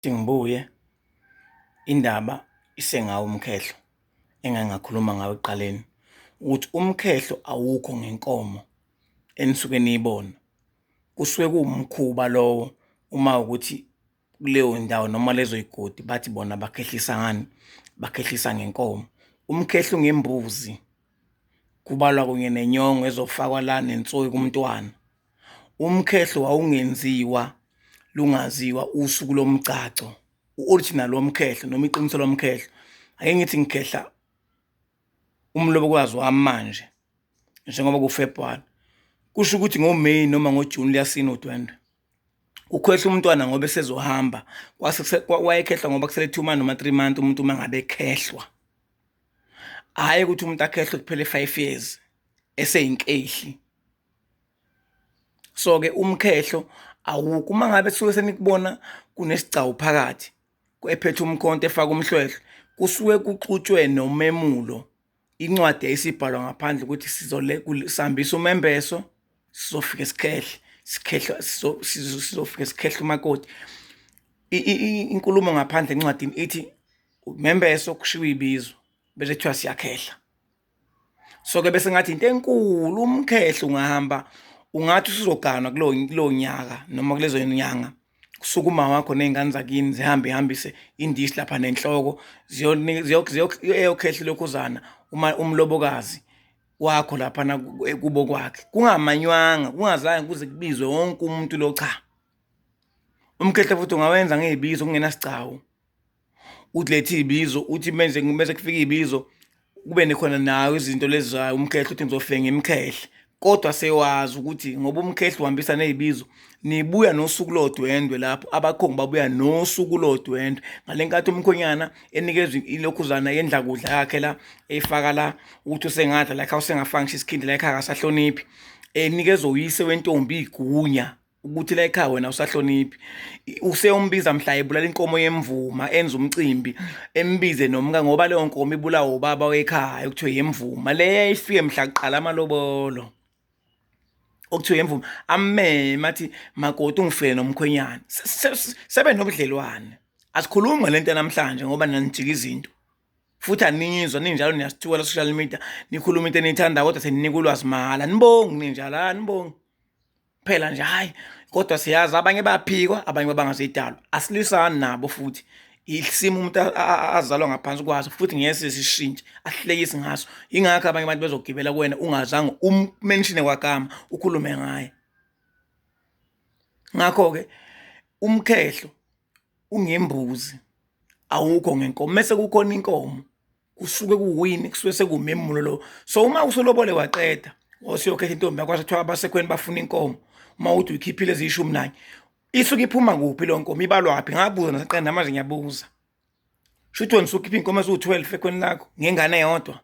ukuthi ngibuye indaba isengawo umkhehlo engangakhuluma ngawo ekuqaleni ukuthi umkhehlo awukho ngenkomo enisuke niyibona kusuke kuwumkhuba lowo uma ukuthi kuleyo ndawo noma lezo yigodi bathi bona bakhehlisa ngani bakhehlisa ngenkomo umkhehlo ngembuzi kubalwa kunye nenyongo ezofakwa la nensoyi kumntwana Umkhehlo wawungenziwa lungaziwa usuku lomgcagco u-original womkhehlo noma iqiniso lomkhehlo ake ngithi ngikhehla umlobokazi wami manje njengoba kufebhwari kusho ukuthi ngoMeyi noma ngoJuni liyasina udwendwe ukhwehla umntwana ngoba esezohamba wayekhehlwa ngoba kusele two month noma three month umuntu uma ngabe ekhehlwa hhayi ukuthi umuntu akhehlwe kuphele five years eseyinkehli so-ke umkhehlo awukho uma ngabe suke senikubona kunesigcawu phakathi ephethe umkhonto efaka umhlwehlwe kusuke kuxutshwe nomemulo incwadi eyisibhalwa ngaphandle ukuthi sizole sihambisa umembeso sizofika sikhehle sikhehle sizofika sikhehle umakoti inkulumo ngaphandle encwadini ithi umembeso kushiwo ibizo bese kuthiwa siyakhehla so ke bese ngathi into enkulu umkhehlo ungahamba ungathi usuzoganwa kulo kulo nyaka noma kulezo nyanga kusuka uma wakho nezingane zakini zihambe ihambise indishi lapha nenhloko ziyokhehla lokhuzana uma umlobokazi wakho lapha na kubo kwakhe kungamanywanga kungazange kuze kubizwe wonke umuntu lo cha umkhehla futhi ungawenza ngezibizo kungenasigcawu ukuthi lethe iy'bizo ukuthi menze mese kufika iy'bizo kube nekhona nayo izinto lezi zayo umkhehle ukuthi ngizofenga imkhehle kodwa sewazi ukuthi ngoba umkhehle uhambisa ney'bizo nibuya nosuku lodwendwe lapho abakhongi babuya nosuku lodwendwe ngale nkathi umkhonyana enikezwa ilokhuzana yendla kudla yakhe la eyifaka la ukuthi usengadla lakhe usengafanga ngisho isikhindi lakhe akasahloniphi enikezwa uyise wentombi igunya ukuthi la ekhaya wena usahloniphi useyombiza mhla ebulala inkomo yemvuma enza umcimbi embize nomka ngoba leyo nkomo ibulawa ubaba wekhaya okuthiwe yemvuma leyo ifike mhla kuqala amalobolo okuthiwa yemvuma ameme athi makoti ungifele nomkhwenyana sebe nobudlelwane asikhulumi ngale nto namhlanje ngoba nanijika izinto futhi anizwa ninjalo niyasithiwa la social media nikhuluma into eniyithandayo kodwa seninika ulwazi mahhala nibongi ninjalo anibongi phela nje hayi kodwa siyazi abanye baphikwa abanye babangazidalwa asilwisani nabo futhi isimo umuntu azalwa ngaphansi kwaso futhi ngeke sishintshe ahlekisi ngaso ingakho abanye abantu bezogibela kuwena ungazange ummenshine kwagama ukhulume ngaye ngakho ke umkhehlo ungembuzi awukho ngenkomo mase kukhona inkomo kusuke kuwini kusuke sekumemulo lo so uma usolobole waqeda osiyokhetha intombi yakho kuthiwa abasekhweni bafuna inkomo uma uthi uyikhiphile eziyishumi nanye isuke iphuma kuphi lo nkomo ibalwaphi ngabuza nasiqeda namanje ngiyabuza shuthi wena usukhipha inkomo eziwu-12 ekhweni lakho ngengane yodwa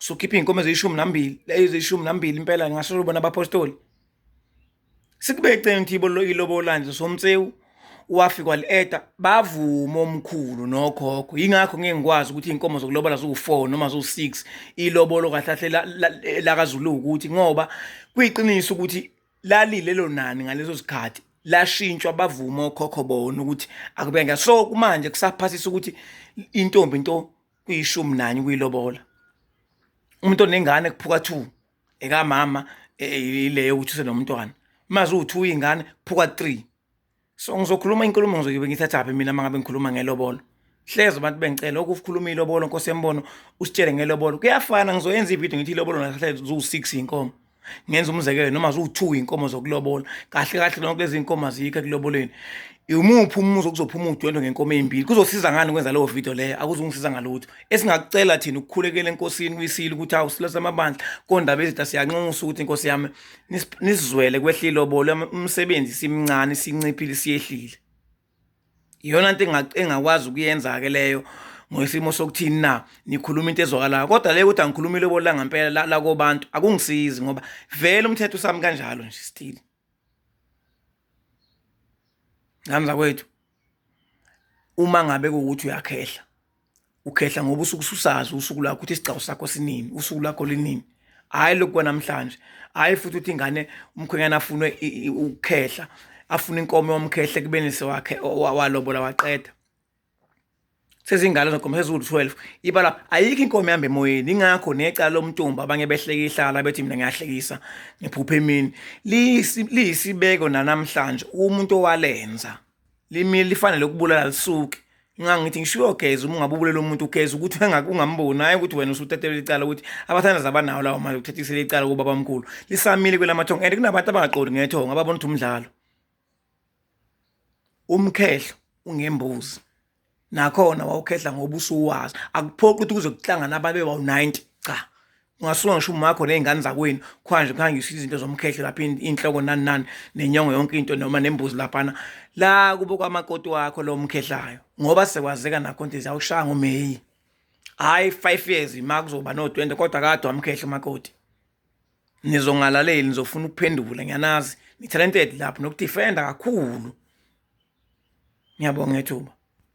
usukhipha inkomo eziyishumi nambili eziyishumi nambili impela ngasho ubona abapostoli sikubeceni thibo lo ilobola nje somtsewu wafi kwalieta bavuma omkhulu nokhokho yingakho ngeke ngikwazi ukuthi inkomo zokulobola ziwu4 noma ziwu6 ilobolo kahlahle lakaZulu ukuthi ngoba kuyiqiniso ukuthi lalilelo nani ngaleso sikhathi lashintshwa bavuma okhokho bona ukuthi akube nge so kumanje kusaphasisa ukuthi intombi into kuyishumi nanye kuyilobola umuntu onengane kuphuka 2 ekamama e, e, ileyo ukuthi usenomntwana mazi uwu-two iy'ngane phuka three so ngizokhuluma inkulumo ngizoyobe ngithathaphi mina uma ngabe ngikhuluma ngelobolo hleze abantu bengicela okukhuluma ilobolo nkosi yembono usitshele ngelobolo kuyafana ngizoyenza ividiyo ngithi ilobolo nahle ziwu-six inkomo ngenza umzekelo noma ziwu-two inkomo zokulobola kahle kahle lonke lezi nkomo azikho ekuloboleni Yimuphi umuzi okuzophuma udwendwe ngenkomo ezimbili? Kuzosiza ngani ukwenza leyo video leyo? Akuzungisiza ngalutho. Esingakucela thina ukukhulekela enkosini kuyisile ukuthi hawu silose amabandla kondaba ezitha siyanxusa ukuthi inkosi yami nisizwele kwehlile obole umsebenzi simncane sinciphile siyehlile. Iyona nto engakwazi ukuyenza ke leyo ngoyisimo sokuthini na nikhuluma into ezwakalayo kodwa le ukuthi angikhulumile obolanga ngempela la kobantu akungisizi ngoba vele umthetho usami kanjalo nje still ngani zakwethu uma ngabe kuwukuthi uyakhehla ukhehla ngoba usuke ususazi usuku lakho ukuthi isigcawu sakho sinini usuku lakho linini hhayi lokhu kwanamhlanje hhayi futhi ukuthi ingane umkhwenyana afune ukukhehla afune inkomo yomkhehle kubeni sewakhe walobola waqeda sezingalo zagoma sezulu 12 ibala ayikho inkomo ihamba emoyeni ingakho necala lomtumba abanye behleka ihlala bethi mina ngiyahlekisa ngiphupha emini liyisibeko nanamhlanje umuntu owalenza limi lifanele ukubulala lisuke ingakho ngithi ngishiwo geza uma ungabe ubulela umuntu ugeza ukuthi ungamboni hayi ukuthi wena usuthathele icala ukuthi abathandazi abanawo lawo mali ukuthathisele icala kubabamkhulu lisamile kwelamathongo and kunabantu abangaqondi ngethongo ababona ukuthi umdlalo Umkhehlo ungembuzi nakhona wawukhehla ngoba usuwazi akuphoqi ukuthi kuze kuhlangane abantu bebawu-90 cha ungasuka ngisho umakho nezingane zakwenu khwanje kuhangiswa izinto zomkhehlo lapha inhloko nani nani nenyongo yonke into noma nembuzi laphana la kubo kwamakoti wakho lo mkhehlayo ngoba sekwazeka nakho nto ziyawushaya ngomeyi hhayi five years ma kuzoba no-twenty kodwa kade wamkhehla umakoti nizongalaleli nizofuna ukuphendula ngiyanazi ni-talented lapho nokudifenda kakhulu ngiyabonga ngethuba